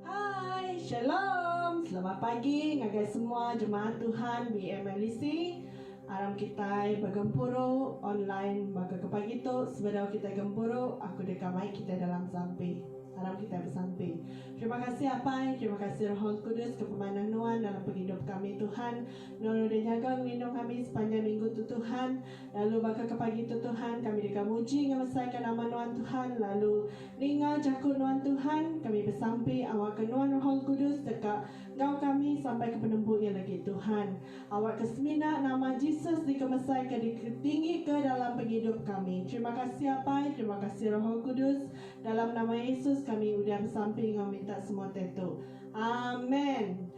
Hai shalom selamat pagi ngagai semua jemaat Tuhan BMLEC aram kitai begempuru online baka ke pagi tu sebedau kitai gempuru aku deka mai kitai dalam sampi aram kitai besampi terima kasih apai terima kasih roh al kudus ke pemanah nuan dalam pengidup kami Tuhan nuan udah nyaga ngelindung kami sepanjang minggu tu Tuhan. Lalu baka ke pagi tu Tuhan, kami deka muji enggau mesaika nama Nuan Tuhan lalu ninga jaku Nuan Tuhan, kami besampi awakka Nuan Rohol Kudus deka enggau kami sampai ke penembu iya legi Tuhan. Awakka semina nama Jesus dikemesaika diketinggika dalam pengidup kami. Terima kasih Apai, terima kasih Rohol Kudus, dalam nama Yesus kami udah besampi enggau minta semua tetu. Amen.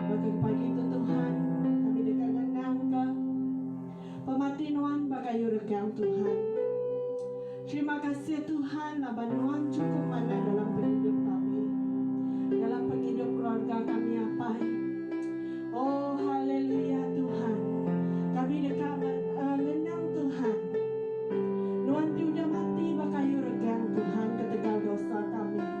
Baka pagi tu Tuhan, kami deka ngenangka pemati Nuan ba kayu regang Tuhan. Terima kasih Tuhan laban Nuan chukup manah dalam pengidup kami, dalam pengidup keluarga kami Apai. Oh haleluya Tuhan, kami deka eh, ngenang Tuhan. Nuan ti udah mati ba kayu regang Tuhan ketegal dosa kami.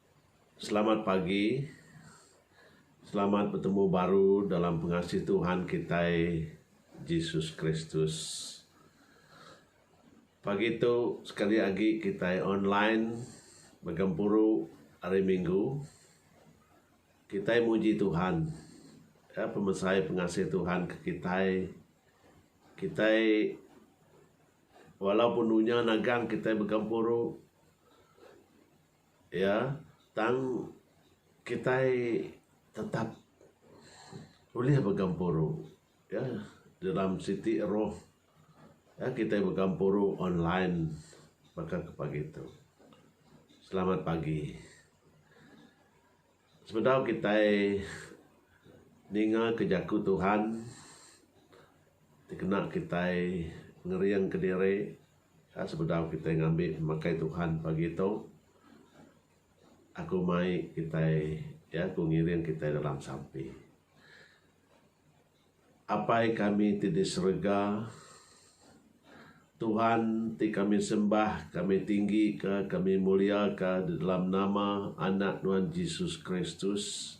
Selamat pagi. Selamat betemu baru dalam pengasih Tuhan kitai Jesus Kristus. Pagi tu sekali agi kitai online ba gempuru Hari Minggu. Kitai muji Tuhan ya pemesai pengasih Tuhan ke kitai. Kitai walaupun dunya nagang kitai begempuru. Iya, tang kitai tetap ulih begempuru iya dalam siti roh iya kitai begempuru online baka ke pagi tu. Selamat pagi. Sebedau kitai ningaka Jaku Tuhan ti kena kitai ngeringka diri sebedau kitai ngambi pemakai Tuhan pagi tu, aku mai kitai iya ku ngiring kitai dalam sampi. Apai kami ti di serega, Tuhan ti kami sembah, kami tinggika, kami muliaka di dalam nama Anak Nuan Jesus Kristus.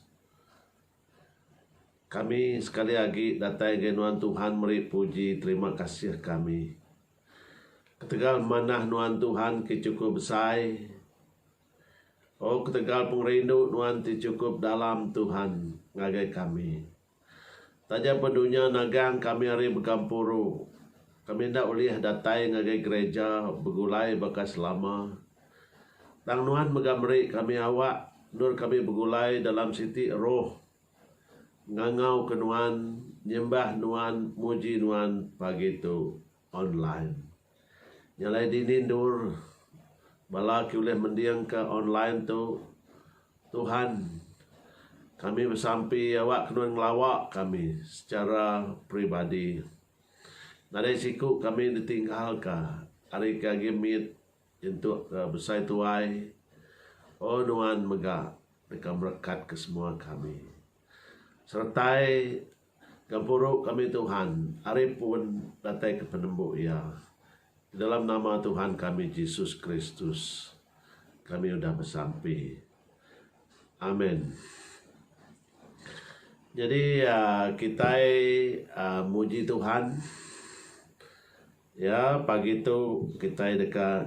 Kami sekali agi datai ngagai Nuan Tuhan meri puji terima kasih kami ketegal manah Nuan Tuhan ke chukup besai. O ketegal pengerindu Nuan ti chukup dalam Tuhan ngagai kami. Taja pun dunya nagang kami ari Begampuru, kami enda ulih datai ngagai gereja begulai baka selama. Tang nuan mega meri kami awak endur kami begulai dalam siti roh ngangauka nuan, nyembah nuan, muji nuan pagi tu. Online. Nya alai dini endur bala ke ulih mendingka online tu Tuhan. Kami besampi awakka nuan ngelawa kami secara peribadi. Nadai siku kami ditinggalka ari ke agi mit nyentuk ke besai tuai. Oh nuan mega deka merekatka semua kami. Seretai Gempuru kami Tuhan, ari pun datai ke penembu Iya. Kedalam nama Tuhan kami Jesus Kristus kami udah besampi. Amen. Nyadi kitai muji Tuhan iya pagi tu kitai deka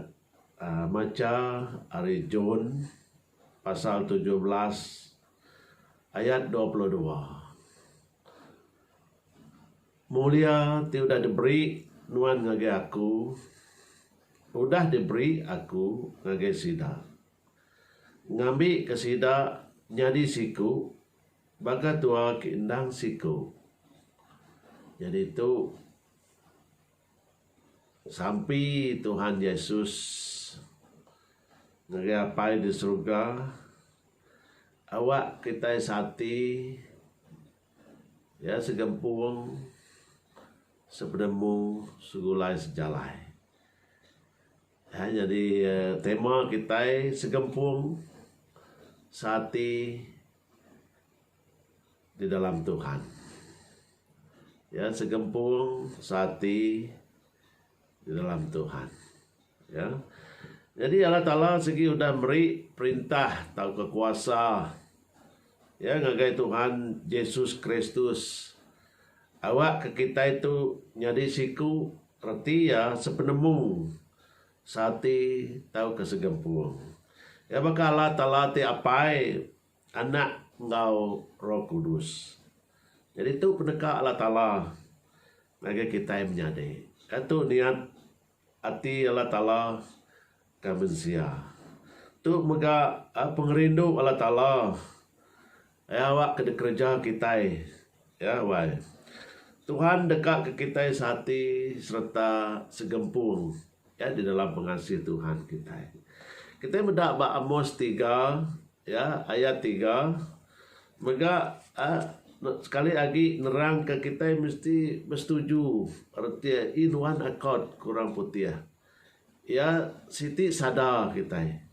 macha ari John pasal tujuh belas. Ayat dua puluh dua Mulia ti udah diberi Nuan ngagai aku, udah diberi aku ngagai sida, ngambika sida nyadi siku baka tua ke endang siku, nyadi tu, Sampi Tuhan Yesus ngagai Apai di Suruga, awak kitai seati, ya segempung, sepenemu, segulai sejalai. Ya nyadi tema kitai segempung, seati. Di dalam Tuhan. Ya, segempung seati di dalam Tuhan. Ya. Jadi Allah Taala sigi udah meri perintah tauka kuasa ya ngagai Tuhan Jesus Kristus awak ke kitai tu nyadi siku reti iya sepenemu seati tauka segempung. Ya baka Allah Taala ti apai Anak enggau Roh Kudus. Nyadi tu peneka Allah Taala ngagai kitai menyadi. Ka tu niat ati Allah Taala ka mensia. Tu mega pengerindu Allah Taala iya awakka dikereja kitai ya wai. Tuhan dekaka kitai seati sereta segempung. Ya di dalam pengasih Tuhan kitai. Kitai meda ba Amos tiga ya ayat tiga mega sekali agi nerang ke kitai mesti besetuju reti in one accord ke orang putih. Ya siti sada kitai.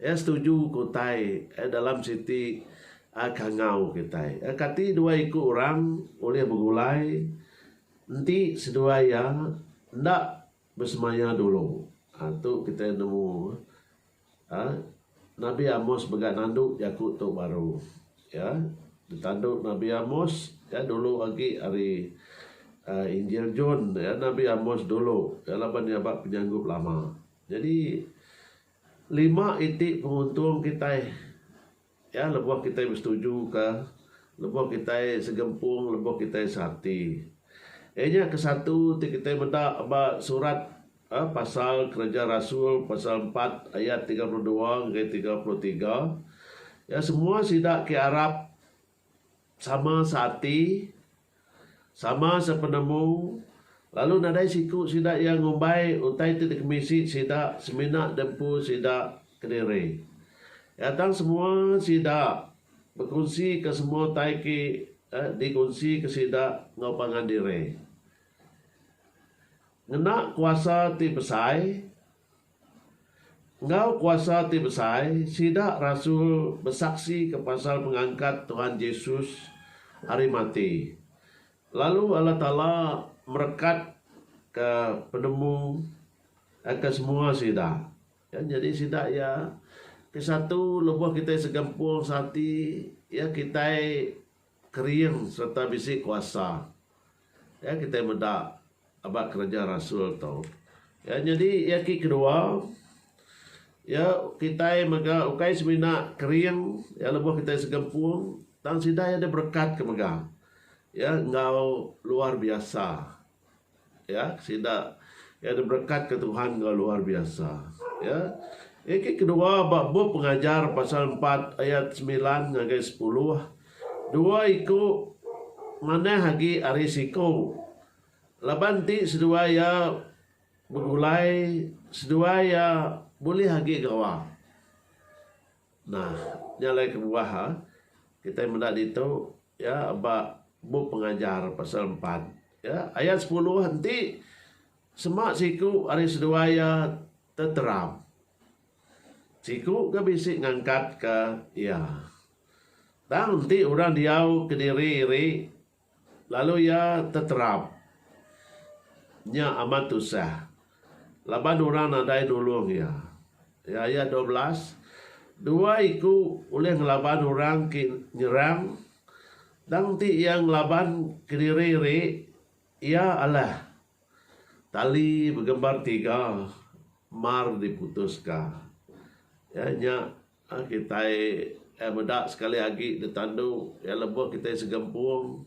Iya setuju ke utai dalam siti kangau kitai. Kati dua iku orang ulih begulai enti seduai iya enda besemaya dulu? Tu kitai nemu Nabi Amos mega nandu jaku tu baru. Iya ditandu Nabi Amos iya dulu agi ari Injil John. Nabi Amos dulu laban iya ba penyanggup lama. Nyadi Lima iti penguntung kitai iya lebuh kitai besetuju ka, lebuh kitai segempung, lebuh kitai seati. Iya nya ke satu ti kitai meda ba surat pasal kereja rasul pasal empat ayat tiga puluh dua ngagai tiga puluh tiga iya semua sida ke arap Sama seati, sama sepenemu, lalu nadai siku sida iya ngumbai utai ti dikemisi sida semina di empu sida kediri. Iya tang semua sida bekunsika semua utai ke dikunsika sida enggau pangan diri. Ngena kuasa ti besai. Enggau kuasa ti besai, sida rasul besaksika pasal pengangkat Tuhan Jesus ari mati, lalu Allah Taala merekatka penemu ke semua sida. Kan nyadi sida iya ke satu lebuh kitai segempung seati, iya kitai. kering sereta bisi kuasa. Ya kitai meda aba kereja rasul tu. Ya nyadi iya ki kedua ya kitai mega ukai semina kering ya lebuh kitai segempung tang sida iya diberekatka mega ya enggau luar biasa. Ya, sida iya diberekatka Tuhan enggau luar biasa. Ya. Eki kedua ba bup pengajar pasal empat ayat semilan ngagai sepuluh, dua iku manah agi ari siku. Laban ti seduai iya begulai, seduai iya bulih agi gawa. Nah, nya alai kebuah kitai meda ditu iya ba bup pengajar pasal empat iya ayat sepuluh enti sema siku ari seduai iya teteram siku ke bisi ngangkatka iya. Tang enti orang diau kediri iri. Lalu iya teterap. Nya amat tusah. Laban orang nadai nulung iya. Ayat dua belas, Dua iku ulih ngelaban orang ke nyerang, tang ti iya ngelaban kediri ri iya alah tali begembar tiga mar diputuska. Iya nya. Kitai iya meda sekali agi ditandu iya lebuh kitai segempung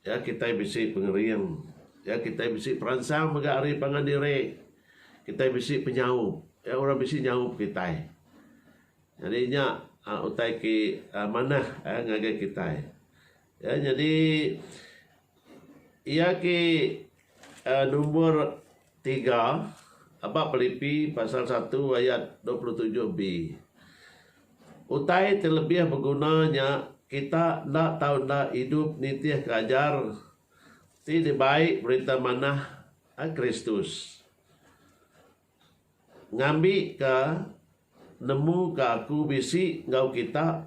iya kitai bisi pengering iya kitai bisi peransang mega ari pangan diri kitai bisi penyaup iya orang bisi nyaup kitai jadi nya utai ke manah ngagai kitai. Ya nyadi iya ke number tiga aba pelipi pasal satu ayat dua puluh tujuh B. Utai ti lebih beguna nya kita enda tau enda idup nitihka ajar ti dibai Berita Manah Kristus. Ngambi ka nemu ka aku bisi enggau kita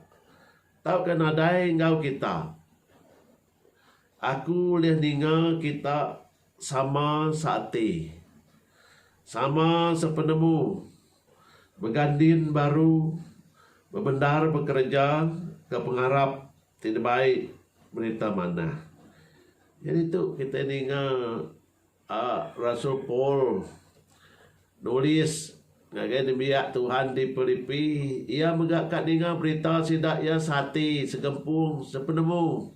tauka nadai enggau kita. Aku ulih ninga kita sama seati, sama sepenemu mega din baru bebendar bekereja ke pengarap ti dibai berita manah. Jadi tu kitai ninga. A Rasul Paul nulis ngagai nembiak Tuhan di Pilipi, iya mega ka ninga berita sida iya seati, segempung, sepenemu.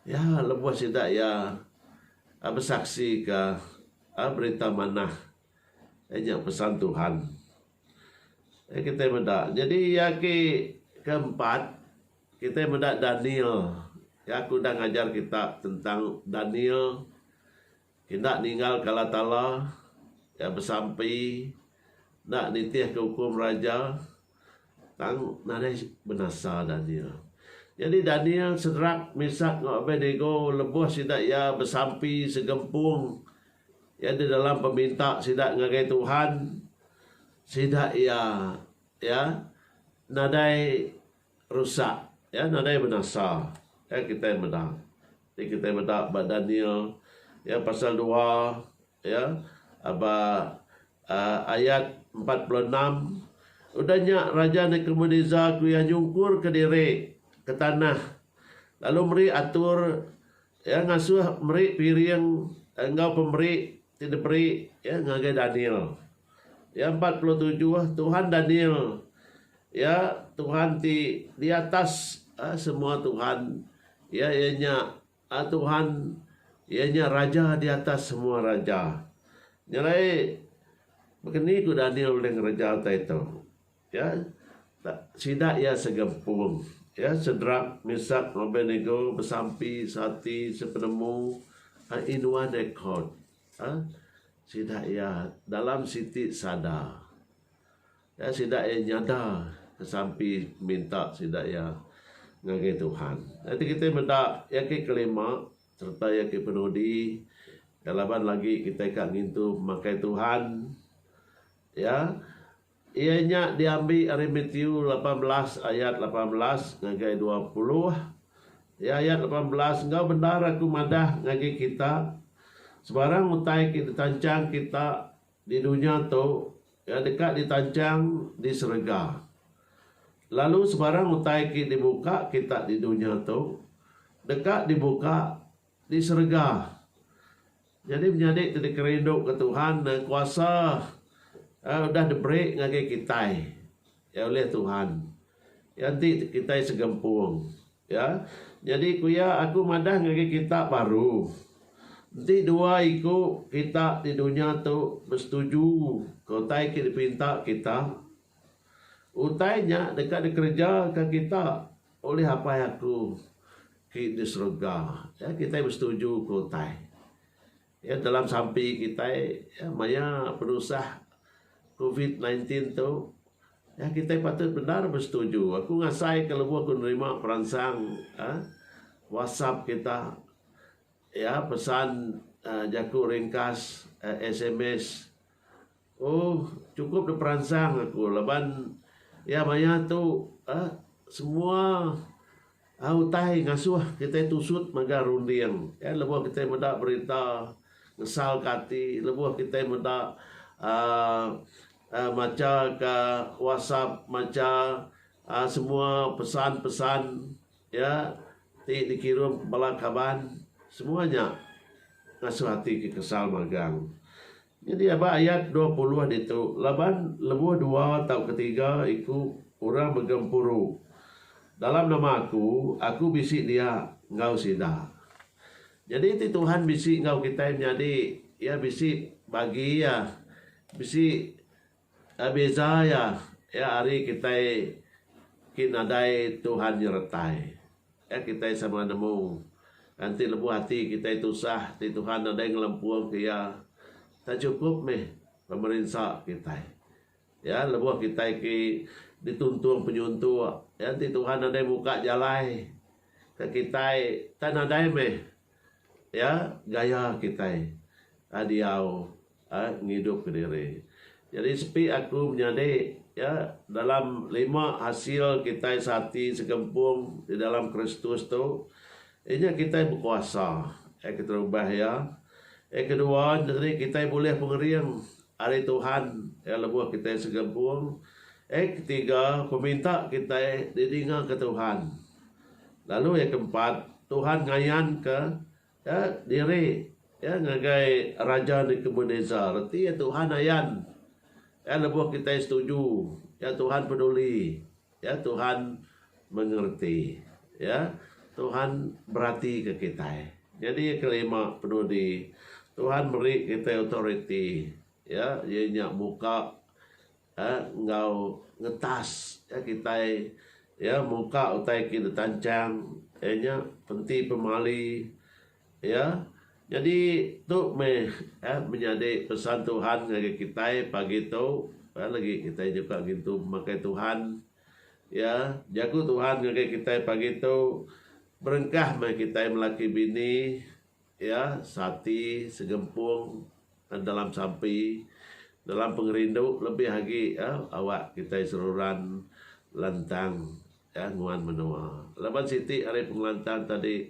Iya lebuh sida iya besaksika berita manah iya nya pesan Tuhan. Kitai meda nyadi iya ke keempat. Kitai meda Daniel, iya ke udah ngajar kita tentang Daniel enda ninggalka Allah Taala, iya besampi enda nitihka ukum raja tang nadai benasa Daniel. Nyadi Daniel, Sedrak, Mesak enggau Abednego lebuh sida iya besampi segempung iya di dalam peminta sida ngagai Tuhan, sida iya iya nadai Rusak. Iya nadai benasa. Iya kitai meda. Ti kitai meda ba Daniel iya pasal dua iya ba aaa ayat empat puluh enam. Udah nya Raja Nebukadnesar ku iya nyungkurka diri ke tanah lalu meri atur Iya ngasuh meri piring enggau pemeri ti diberi Iya ngagai Daniel. Iya empat puluh tujuh tuhan Daniel iya tuhan ti di atas semua tuhan. Iya iya nya tuhan iya nya raja di atas semua raja. Nya alai baka ni ku Daniel ulih ngereja utai tu? Ya, tak sida iya segempung. Ya, Sedrak, Mesak, enggau Abednego besampi seati sepenemu inua Nekod. Ya, sida iya dalam siti sada. Ya, sida iya nyada kesampi minta sida iya ngagai Tuhan. Ya, ti kitai meda iya ke kelima sereta iya ke penudi. Ya, laban lagi kitai ka ngintu pemakai Tuhan. Ya. Iya nya diambi ari Matiu lapan belas ayat lapan belas ngagai dua puluh. Di ayat lapan belas, enggau bendar aku madah ngagai kita, sebarang utai ke ditanchang kita di dunya tu, iya deka ditanchang di serega. Lalu sebarang utai ke dibuka kita di dunya tu, deka dibuka Di serega. Nyadi menyadi ti dikerinduka Tuhan ne kuasa Iya udah diberi ngagai kitai iya ulih Tuhan. Iya enti kitai segempung. Ya. Nyadi ku iya aku madah ngagai kita baru. Enti dua iku kita di dunya tu besetuju ke utai ke dipinta kita, utai nya deka dikerejaka kita. Ulih Apai aku ti di serega. Ya, kitai besetuju ku utai. Ya, dalam sampi kitai ya, maya penusah covid sembilan belas tu, ya, kitai patut bendar besetuju. Aku ngasai ke lebuh aku nerima peransang ya, WhatsApp kita, ya, pesan ya, jaku ringkas, ya, sms, Oh cukup da peransang aku laban iya maya tu uhh semua uhh utai ngasuh kitai tusut mega runding en lebuh kitai meda berita ngesal ka ati lebuh kitai meda uhh uhh macha ka whatsapp macha uhh semua pesan-pesan iya ti dikirum bala kaban semua nya ngasuh ati ke kesal magang. Nyadi aba ayat dua puluh ditu, Laban lebuh dua tau ketiga iku orang begempuru dalam nama Aku, Aku bisi dia enggau sida. Nyadi ti Tuhan bisi enggau kitai menyadi, Iya bisi bagi iya bisi. Beza iya, iya ari kitai ti nadai Tuhan nyeretai. Iya kitai sama nemu kanti lebuh ati kitai tusah ti Tuhan nadai ngelempungka iya. Tak chukup meh pemerinsa kitai. Iya lebuh kitai ti dituntung penyuntuk iya enti Tuhan nadai muka jalai ke kitai tak nadai meh iya gaya kitai diau. Ak ngidup ke diri. Jadi sepi aku menyadi ya dalam lima hasil kitai seati segempung di dalam Kristus tu inya kitai bekuasa ya keterubah ya ya kedua nyadi kitai bulih pengering ari Tuhan ya lebuh kitai segempung ya ketiga peminta kitai didinga ke Tuhan lalu ya keempat Tuhan ngayan ke Ya, diri ya ngagai raja Nebukadnezar reti ya Tuhan ayan. Ya lebuh kitai setuju, ya Tuhan peduli, ya Tuhan mengerti. Ya, Tuhan beratika kitai. Nyadi ya kelima penudi, Tuhan meri kitai authority. Ya, iya nya muka enggau ngetas iya kitai iya muka utai ke ditanchang iya nya penti pemali iya nyadi tu meh menyadi pesan Tuhan ngagai kitai pagi tu iya lagi kitai nyuka ngintu pemakai Tuhan iya jaku Tuhan ngagai kitai pagi tu berengkah meh kitai melaki bini. Iya sati segempung dalam sampi, dalam pengerindu lebih agi awak kitai seruran lantang nguan menua. Laban siti ari pengelantang tadi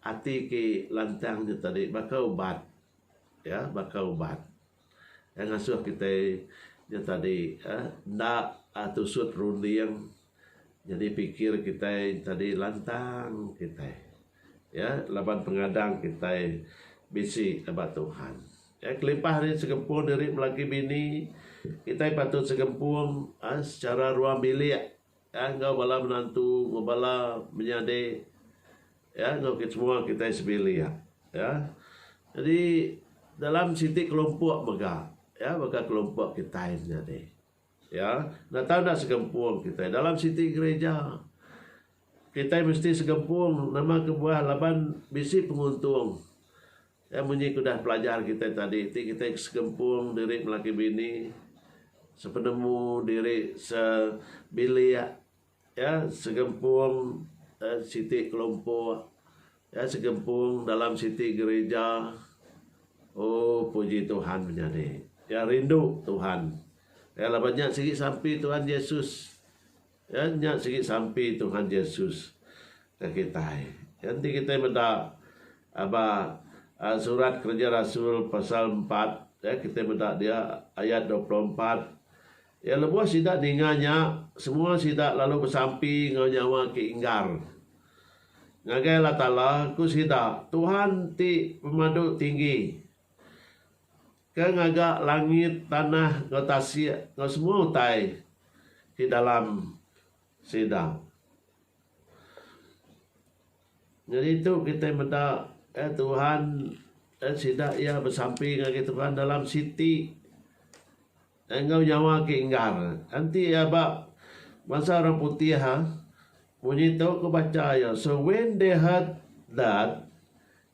ati ke lantang nya tadi baka ubat, baka ubat. Iya ngasuh kitai nya tadi uhh enda tusut runding nyadi pikir kitai tadi lantang kitai iya laban pengadang kitai bisi ba Tuhan. Iya kelimpah ari sempung diri belaki bini kitai patut sempung secara ruang bilik. Iya enggau bala menantu, enggau bala menyadi, iya enggau kitai semua kitai sebilik. Iya. Jadi dalam siti kelompok mega, iya baka kelompok kitai menyadi. Iya. Enda tau enda segempung kitai dalam siti gerija. Kitai mesti segempung nama kebuah laban bisi penguntung. Iya munyi ke udah pelajar kitai tadi ti kitai ke segempung diri belaki bini sepenemu diri sebilik iya segempung siti kelompok iya segempung dalam siti gerija ooh puji Tuhan menyadi iya rindu Tuhan iya laban nya sigi sampi Tuhan Jesus Iya nya sigi sampi Tuhan Jesus ke kitai. Iya enti kitai meda ba surat Kereja Rasul pasal empat, kitai meda dia ayat dua puluh empat, Iya lebuh sida ninga nya, semua sida lalu besampi enggau nyawa ke inggar. Ngagai Allah Taala, ku sida, Tuhan ti pemadu tinggi. Ke ngaga langit, tanah, enggau tasik, enggau semua utai ti dalam sida. Nyadi tu kitai meda eh Tuhan eh sida iya besampi ngagai Tuhan dalam siti eh enggau nyawa ke inggar. Enti iya ba bansa orang putih ha munyi tu ku bacha iya, so when they heard that,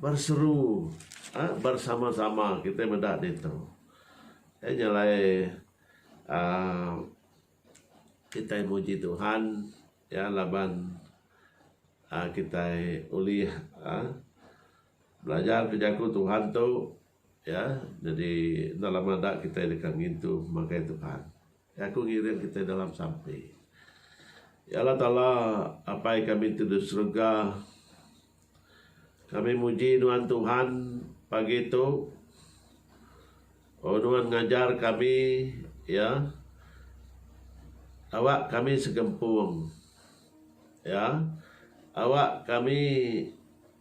Berseru uhh bersama-sama kitai meda ditu. Nya nya alai uhh kitai muji Tuhan iya laban uhh kitai ulih uhh belajar ke jaku Tuhan tu iya nyadi enda lama da kitai deka ngintu makai Tuhan. Aku ngiring kitai dalam sampi. Ya Allah Taala, Apai kami ti di serega, kami muji Nuan Tuhan pagi tu. Oh Nuan ngajar kami iya. Awak kami segempung iya. Awak kami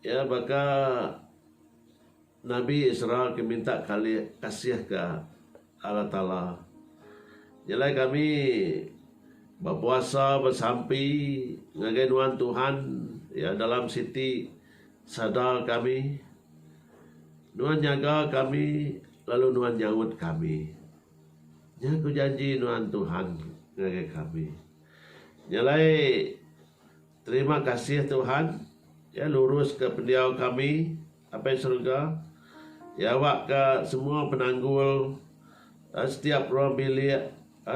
iya baka. Nabi Israel ke minta kalih kasih ke Allah Taala. Nyelai kami bepuasa besampi ngagai nuan Tuhan iya dalam siti sada kami. Nuan nyaga kami lalu nuan nyaut kami. Nya ku janji nuan Tuhan ngagai kami. Nyelai terima kasih Tuhan iya lurus ke pendiau kami Apai Serega, iya awakka semua penanggul setiap ruang bilik,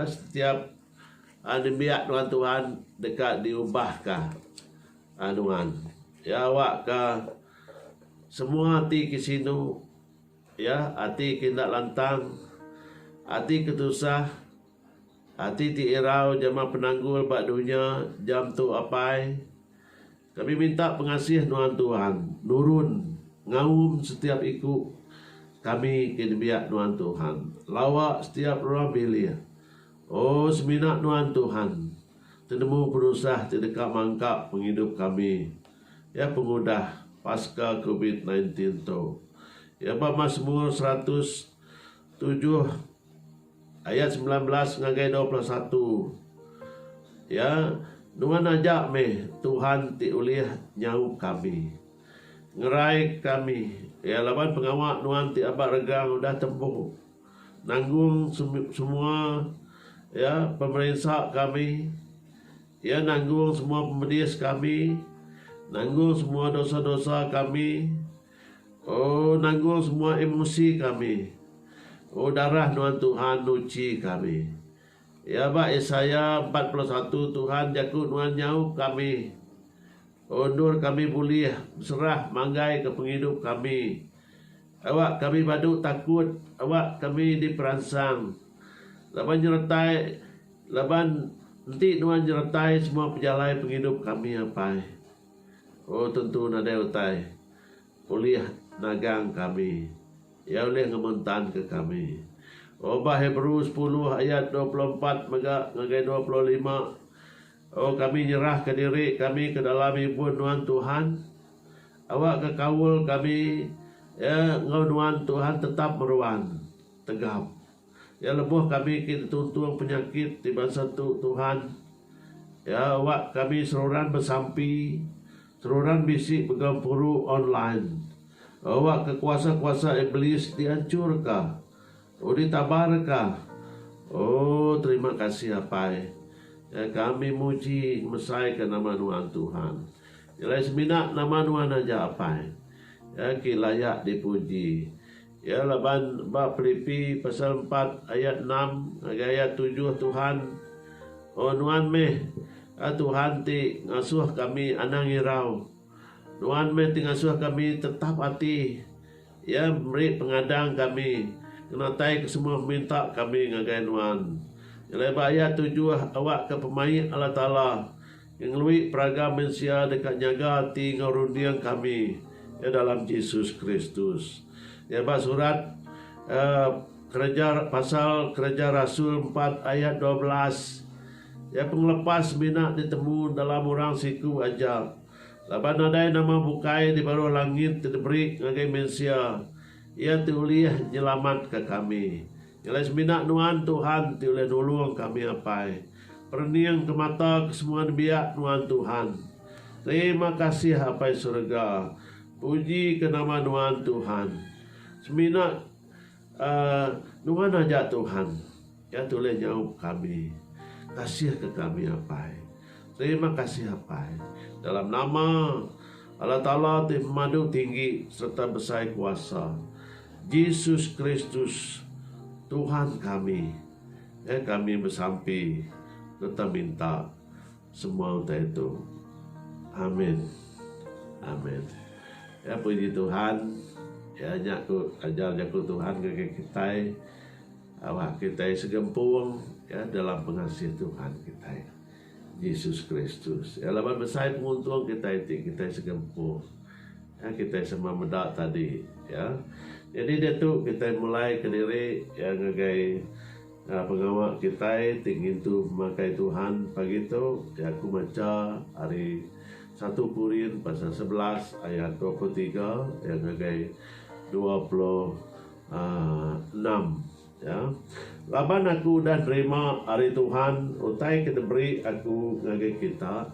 setiap nembiak nuan Tuhan deka diubahka nuan. Iya awakka semua ati ke sinu, iya ati ke enda lantang, ati ke tusah, ati ti irau jama penanggul ba dunya jam tu apai. Kami minta pengasih nuan Tuhan nurun ngaum setiap iku kami ke nembiak nuan Tuhan lawa setiap ruang bilik. Oh semina nuan Tuhan tenemu penusah ti deka mangka pengidup kami iya pengudah paska covid nineteen tu iya ba Masmur seratus tujuh. Ayat semilan belas ngagai dua puluh satu, Iya, nuan aja meh Tuhan ti ulih nyaup kami, ngerai kami, iya, laban pengawa nuan ti aba regang udah tembu nanggung semua, iya, pemerinsa kami, iya, nanggung semua pemedis kami, nanggung semua dosa-dosa kami. Oh nanggung semua emosi kami. Oh darah nuan Tuhan nuchi kami. Ya ba Isaya empat puluh satu Tuhan jaku nuan nyaup kami. Oh endur kami bulih beserah manggai ke pengidup kami. Awak kami badu takut, awak kami diperansang. Laban nyeretai laban enti nuan nyeretai semua pejalai pengidup kami apai. Oh tentu nadai utai ulih nagang kami, iya ulih ngementanka kami. Oh ba Hebrew sepuluh ayat dua puluh empat mega ngagai dua puluh lima, oh kami nyerahka diri kami ke dalam ibun nuan Tuhan, awakka kaul kami enggau nuan Tuhan tetap meruan tegap. Iya lebuh kami ke dituntung penyakit ti bansa tu, Tuhan. Iya awak kami seruran besampi, seruran bisi begau puru online. Awak ke kuasa-kuasa Iblis dianchur ka. Oh ditabar ka. Oh terima kasih Apai. Iya kami muji ngemesai ka nama Nuan Tuhan. Nyelai semina nama Nuan aja Apai. Iya ke layak dipuji. Iya laban ba Pilipi pasal empat ayat enam ngagai ayat tujuh Tuhan, O Nuan meh a Tuhan ti ngasuh kami anang irau. Nuan meh ti ngasuh kami tetap ati. Iya meri pengadang kami ngenatai ke semua peminta kami ngagai Nuan. Ngelai ba ayat tujuh awakka pemaik Allah Taala. Ngengelui peraga mensia deka nyaga ati enggau runding kami iya dalam Jesus Kristus. Iya ba surat Kereja pasal Kereja Rasul empat ayat dua belas. Iya pengelepas semina ditemu dalam orang siku aja. Laban nadai nama bukai di baruh langit ti diberi ngagai mensia iya ti ulih nyelamatka kami. Ngelai semina nuan Tuhan ti ulih nulung kami apai. Perening ke mata ke semua nembiak nuan Tuhan. Terima kasih apai serega. Puji ke nama nuan Tuhan. Semina uhh nuan aja Tuhan. Iya ti ulih nyaup kami. Kasih ke kami apai. Terima kasih Apai, dalam nama Allah Taala ti Madu Tinggi sereta Besai Kuasa, Jesus Kristus, Tuhan kami, eh kami besampi sereta minta semua utai tu. Amin. Amin. Ya puji Tuhan, ya nya ku ajar jaku Tuhan ngagai kitai, awak kitai segempung ya dalam pengasih Tuhan kitai. Jesus Kristus. Iya laban besai penguntung kitai ti kitai segempuh. Ya, kitai sama meda tadi, ya. Jadi diatu kitai mulai kediri ya ngagai uh, pengawa kitai ti ngintu pemakai Tuhan pagi tu, ya aku macha ari 1 Korin pasal 11 ayat 23 ya ngagai 26. Uh, Ya, laban aku udah nerima ari Tuhan utai ke diberi aku ngagai kita,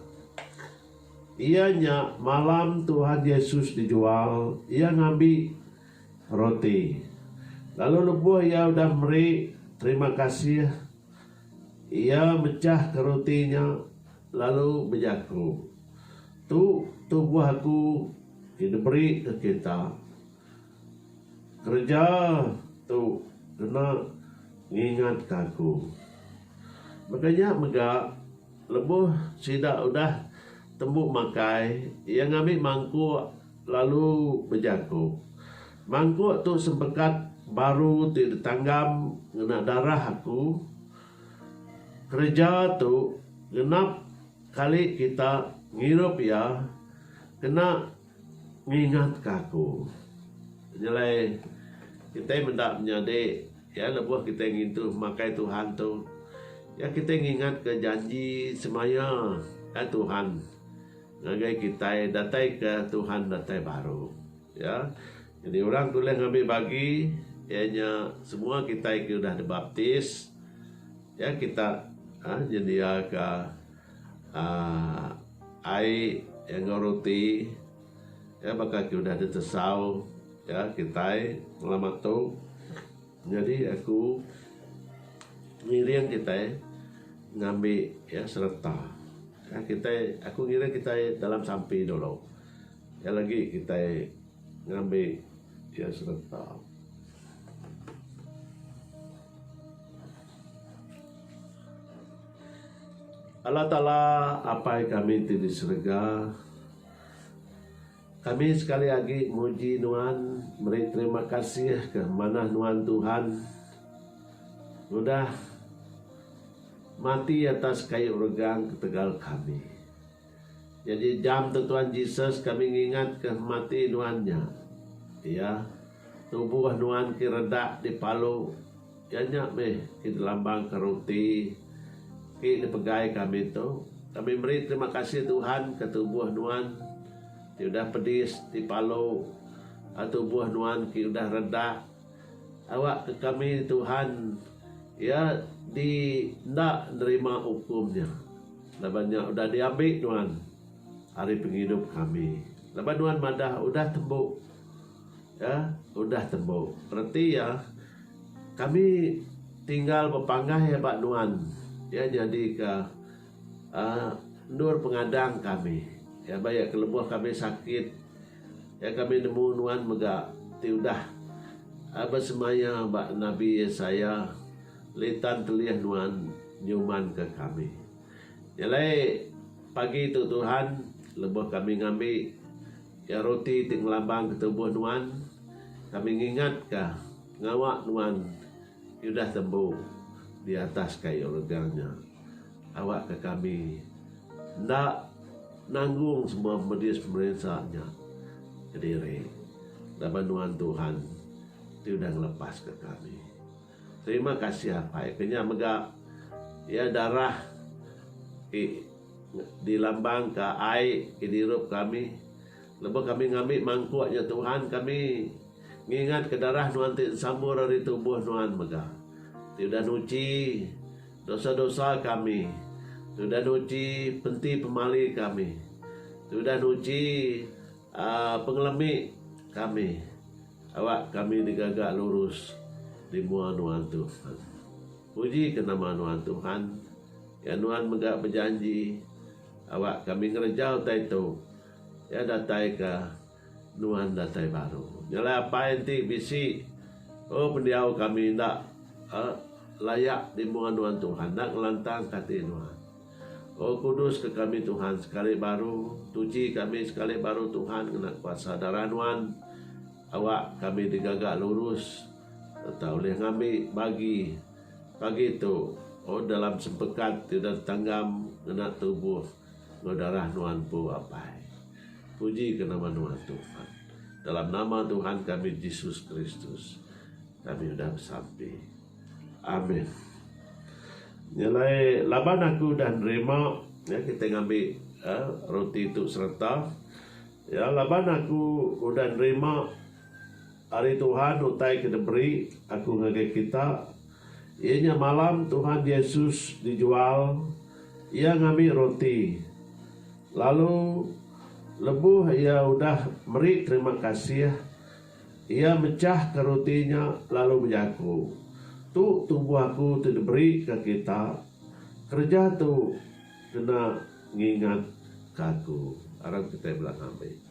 iya nya malam Tuhan Yesus dijual, iya ngambi roti, lalu lebuh iya udah meri terima kasih, iya mechahka roti nya lalu bejaku, Tu tubuh aku ke diberi ke kita. Kereja tu kena ngingatka aku. Baka nya mega, lebuh sida udah tembu makai, iya ngambi mangkuk lalu bejaku, Mangkuk tu sempekat baru ti ditanggam ngena darah aku. Kereja tu genap kali kita ngirup iya kena Ngingatka aku. Nyelai kitai meda menyadi iya lebuh kitai ngintu pemakai Tuhan tu, iya kitai ngingatka janji semaya ai Tuhan ngagai kitai dataika Tuhan datai baru. Iya nyadi orang ti ulih ngambi bagi iya nya semua kitai ke udah dibaptis. Iya kita nyendiaka. aaa ai enggau roti iya baka ke udah ditesau iya kitai selamat tu nyadi aku ngiring kitai ngambi iya sereta kan kitai aku ngiring kitai dalam sampi dulu iya lagi kitai ngambi iya sereta. Allah Taala Apai kami ti di serega kami sekali agi muji nuan meri terima kasih ka manah nuan Tuhan udah mati atas kayu regang ketegal kami. Nyadi jam tu Tuan Jesus kami ngingatka mati nuan nya. Iya, tubuh nuan ke redak dipalu, iya nya meh ke dilambangka roti ke dipegai kami tu. Kami meri terima kasih Tuhan ke tubuh nuan ti udah pedis dipalu lalu tubuh nuan ke udah redak. Awak ke kami Tuhan iya di enda nerima ukum nya laban nya udah di ambi nuan ari pengidup kami laban nuan madah udah tembu iya udah tembu reti iya kami tinggal bepanggai ba nuan iya nyadi ka endur pengadang kami iya ba iya kelebuh kami sakit Ya kami nemu nuan mega ti udah besemaya ba nabi Yesaya litan kelih nuan nyumanka kami. Nya alai pagi tu Tuhan lebuh kami ngambi Iya roti ti ngelambangka tubuh nuan kami ngingatka ngawa nuan Ti udah tembu di atas kayu rega nya awakka kami enda nanggung semua medis pemerinsa nya kediri laban nuan Tuhan ti udah ngelepaska kami. Terima kasih Apai ke nya mega iya darah ti dilambangka ai ke dirup kami. Lebuh kami ngambi mangkuk nya Tuhan kami ngingatka darah nuan ti ensambur ari tubuh nuan mega ti udah nuchi dosa-dosa kami ti udah nuchi penti pemali kami ti udah nuchi aaa pengelemi kami awak kami digaga lurus dimua nuan Tuhan. Pujika nama nuan Tuhan ya nuan mega bejanji awak kami ngereja utai tu. Iya datai ke nuan datai baru. Nyelai apai enti bisi. Oh pendiau kami enda layak dimuan nuan Tuhan. Enda ngelantang ke ati nuan. Oh kudus ke kami Tuhan sekali baru. Tuchi kami sekali baru Tuhan ngena kuasa darah nuan. Awak kami digaga lurus serta ulih ngambi bagi pagi tu. Oh dalam sempekat ti udah ditanggam ngena tubuh. Enggau darah nuan empu apai. Puji ke nama nuan Tuhan. Dalam nama Tuhan kami Jesus Kristus kami udah besampi. Amin. Nya alai laban aku udah nerima ya kita ngambi ya, roti tu sereta ya laban aku udah nerima Ari Tuhan utai ke diberi aku ngagai kita, iya nya malam Tuhan Jesus dijual, iya ngambi roti, lalu lebuh iya udah meri terima kasih, iya mechahka roti nya lalu bejaku, Tu tubuh aku ti diberika kita, kereja tu kena ngingatka aku. Aram kitai bela ngambi.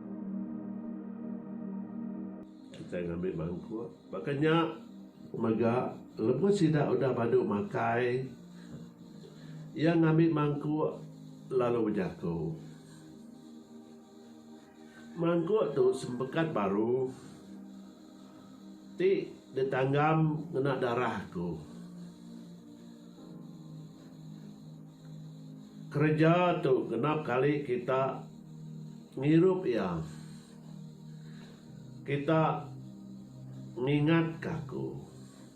Kitai ngambi mangkuk. Baka nya mega, lebuh sida udah badu makai, iya ngambi mangkuk lalu bejaku. Mangkuk tu sempekat baru. Ti ditanggam ngena darah aku. Kereja tu genap kali kita ngirup iya. Kita ngingatka aku.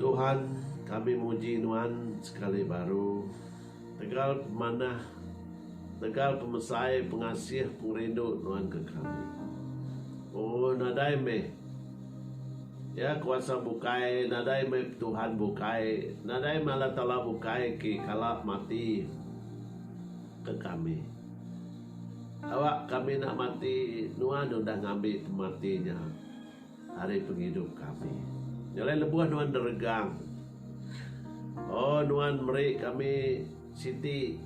Tuhan kami muji nuan sekali baru tegal pemanah tegal pemesai pengasih pengerindu nuan ke kami. Oh nadai meh ya kuasa bukai nadai meh Tuhan bukai nadai meh Allah taala bukai ke kala mati ke kami. Awak kami enda mati nuan udah ngambi pemati nya. Ari pengidup kami. Jalai lebuh nuan deregang. O nuan meri kami siti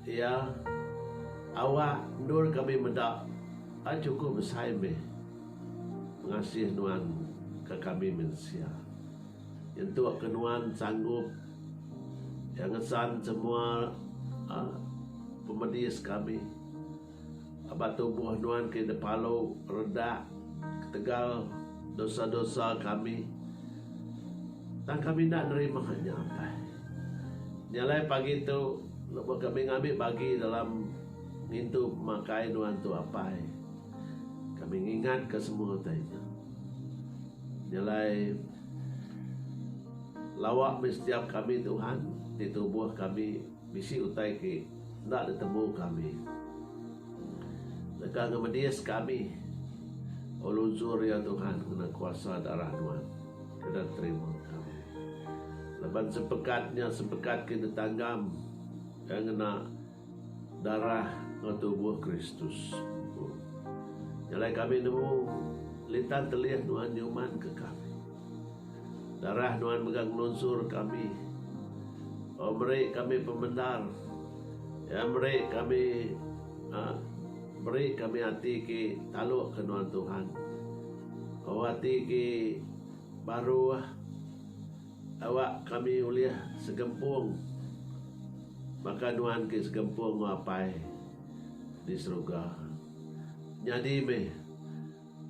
iya awak endur kami meda ai chukup besai meh pengasih nuan ke kami mensia. Nyentuk ke nuan sanggup iya ngesan semua a pemedis kami. Aba tubuh nuan ke depalu redak ketegal dosa-dosa kami, tang kami enda nerima nya apai. Nya alai pagi tu lebuh kami ngambi bagi dalam ngintu pemakai nuan tu apai, kami ngingatka semua utai nya. Nya alai lawa meh setiap kami Tuhan ti tubuh kami. Bisi utai ti enda ditemu kami. Deka ngemedis kami. O lunchur, ya Tuhan, ngena kuasa darah Nuan, kena terima kami. Laban sepekat nya sepekat ke ditanggam iya ngena darah enggau tubuh Kristus empu. Nya alai kami nemu, litan telih Nuan nyumanka kami. Darah Nuan mega ngelunsur kami. Au meri kami pemendar. Iya meri kami meri kami ati ke taluk ke nuan Tuhan. Au ati ke baru awak kami ulih segempung baka nuan ke segempung enggau Apai di serega. Nyadi meh.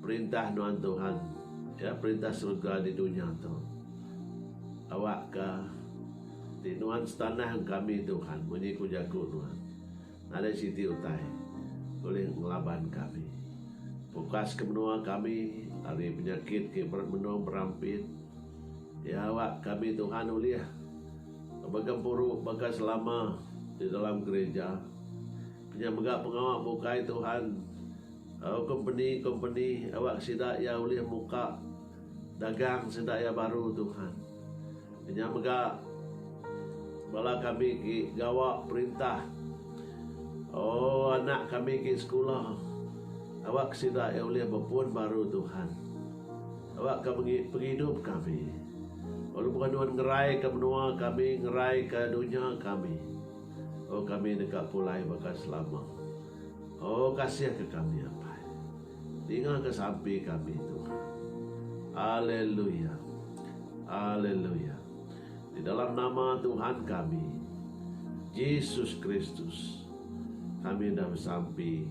Perintah nuan Tuhan, iya perintah serega di dunya tu. Awakka ati nuan setanang kami Tuhan munyi ku jaku nuan. Nadai siti utai ulih ngelaban kami. Pukaska menua kami ari penyakit ke menung berampit. Iya awak kami Tuhan ulih begempuru baka selama di dalam gerija. Kenyah mega pengawa bukai Tuhan. Enggau kompeni-kompeni awak sida iya ulih muka dagang sida iya baru Tuhan. Inya mega bala kami ti gawa perintah oh anak kami ti sekula awak sida iya ulih bepun baru Tuhan. Awak ka pengidup kami lalu buah nuan ngerai ka menua kami ngerai ka dunya kami oh kami deka pulai baka selama. O kasih ke kami apai. Ninga ke sampi kami Tuhan. Aleluia. Aleluia. Di dalam nama Tuhan kami Jesus Kristus kami udah besampi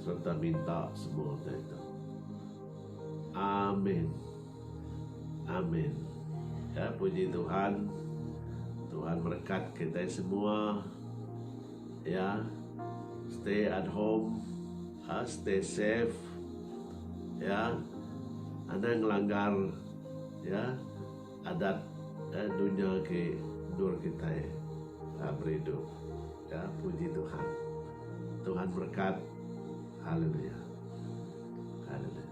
serta minta semua utai tu. Amin. Amin. Ya puji Tuhan. Tuhan berkat kitai semua. ya stay at home ya stay safe ya anang ngelanggar ya adat ya dunya ke endur kitai ya berindu ya puji tuhan tuhan berkat haleluya haleluya.